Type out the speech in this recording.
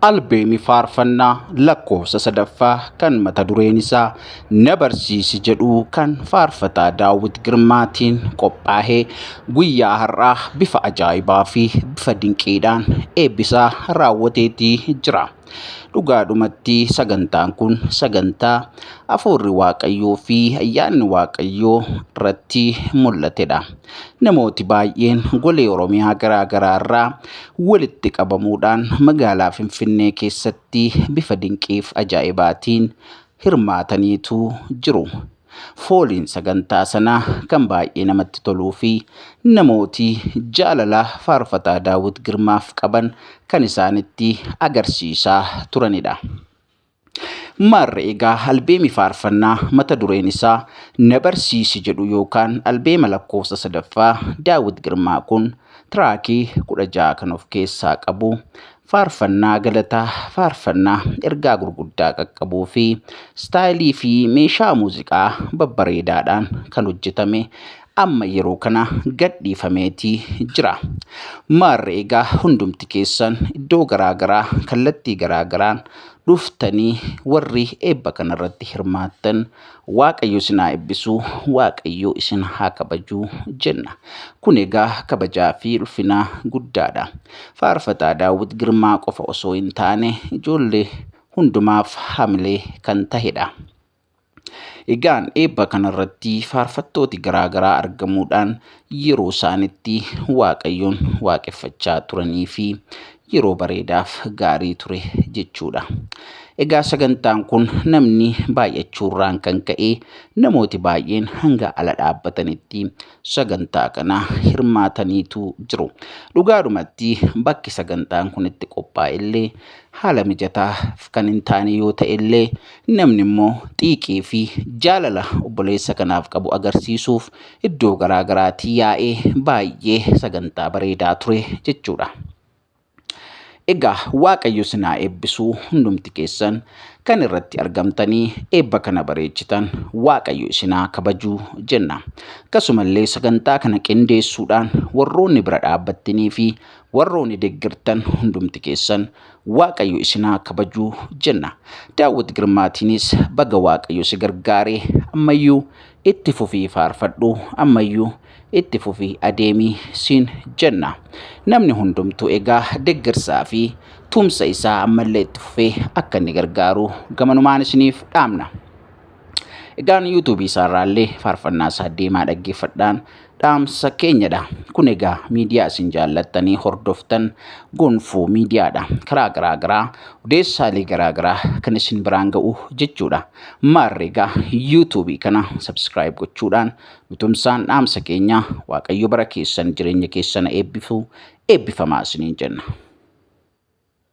albeemi faarfannaa lakkoofsa sadaffaa kan mata dureen isaa na barsiisi jedhu kan faarfataa daawwit girmaatiin qophaa'ee guyyaa har'aa bifa ajaa'ibaa fi bifa dinqiidhaan eebbisaa raawwateetii jira. Dhugaadhumatti sagantaan kun sagantaa afuurri waaqayyoo fi ayyaanni waaqayyoo irratti mul'atedha. Namooti baay'een golee Oromiyaa garaa garaa irraa walitti qabamuudhaan magaalaa Finfinnee keessatti bifa dinqiif ajaa'ibaatiin hirmaataniitu jiru. Fooliin sagantaa sanaa kan baay'ee namatti toluu fi namooti jaalala faarfataa Daawwit Girmaaf qaban kan isaanitti agarsiisaa turanidha. Maarree egaa albeemi faarfannaa mata dureen isaa na barsiisi jedhu yookaan albeema lakkoofsa sadaffaa Daawit Girmaa kun tiraakii kudha ja'a kan of keessaa qabu faarfannaa galataa, faarfannaa ergaa gurguddaa qaqqabuu fi istaayilii fi meeshaa muuziqaa babbareedaadhaan kan hojjetame amma yeroo kana gadhiifameeti jira. Maarre egaa hundumti keessan iddoo garaa garaa kallattii garaa garaan dhuftanii warri eebba kanarratti hirmaattan Waaqayyo isin haa eebbisu, Waaqayyo isin haa kabaju jenna. Kun egaa kabajaa fi ulfina guddaadha. Faarfataa Daawwit Girmaa qofa osoo hin taane ijoollee hundumaaf hamilee kan tahedha. Egaan eebba kanarratti faarfattooti garaa garaa argamuudhaan yeroo isaanitti Waaqayyoon waaqeffachaa turanii fi yeroo bareedaaf gaarii ture jechuudha. Egaa sagantaan kun namni baay'achuurraan kan ka'e namooti baay'een hanga ala dhaabbatanitti sagantaa kana hirmaataniitu jiru. Dhugaadhumatti bakki sagantaan kun itti qophaa'e illee haala mijataa kan hin taane yoo ta'e illee Namni immoo xiiqii fi jaalala obboleessa kanaaf qabu agarsiisuuf iddoo garaa garaati yaa'ee baay'ee sagantaa bareedaa ture jechuudha. Egaa Waaqayyo isin haa eebbisu hundumti keessan kan irratti argamtanii eebba kana bareechitan Waaqayyo isin haa kabaju jenna. Akkasumallee sagantaa kana qindeessuudhaan warroonni bira dhaabbattanii fi warroonni deeggartan hundumti keessan Waaqayyo isin haa kabaju jenna. Daawwit Girmaatiinis baga Waaqayyo si gargaare ammayyuu itti fufii faarfadhu ammayyuu itti fufii adeemii siin jenna. Namni hundumtuu egaa deggersaa fi tumsa isaa ammallee itti fufee akka inni gargaaru gamanumaan isiniif dhaamna. Egaan YouTube isaarraallee faarfannaa isaa deemaa dhaggeeffadhaan dhaamsa keenyadha. Kun egaa miidiyaa isin jaallattanii hordoftan gonfoo miidiyaadha. Karaa garaa garaa odeessaalee garaa garaa kan isin biraan ga'u jechuudha. Maarree egaa YouTube kana subscribe gochuudhaan nutumsaan dhaamsa keenya Waaqayyo bara keessan jireenya keessan eebbifu eebbifamaa isiniin jenna.